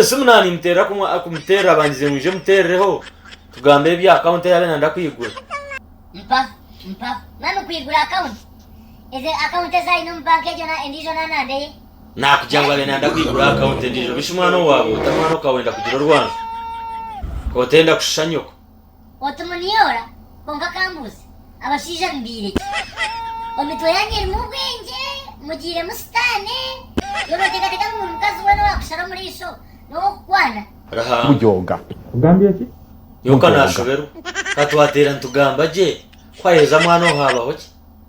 Esimu naanimuteerera kumuteerera bangize ngu nje muteerereho tugambe ebya akawunti ei abe nanda kwigura. Mpaho mpaho mami kwigura akawunti eze akawunti ezi aine omu banka egyo endiijo naananda eye. Naakugira ngu abe nanda kwigura akawunti endiijo bishi mwana owaabo ota mwana okawenda kugira orwanju kotenda kushusha nyoko. Oti muniyoora kwonka kambuuze abashaija mubaire ki? Omitwe yanyu erimu obwengye mugiiremu sitaane yo noteekateeka ngu buri mukazi weena owaakushara omu riisho n'ow'okukwana. Ruhanga. Nyowe ka naashoberwa. Ka twateera nitugamba gye, ku ayeeza mwana owo haabaho ki?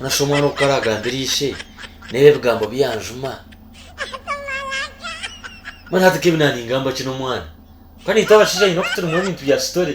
Nashusha omwana oku karagambira ishe n'ebi ebigambo bi yanjuma. Mbwenu hati nk'ebi naningamba ki n'omwana? Ka naitwe abashaija nyine okutunga ebintu bya sitore.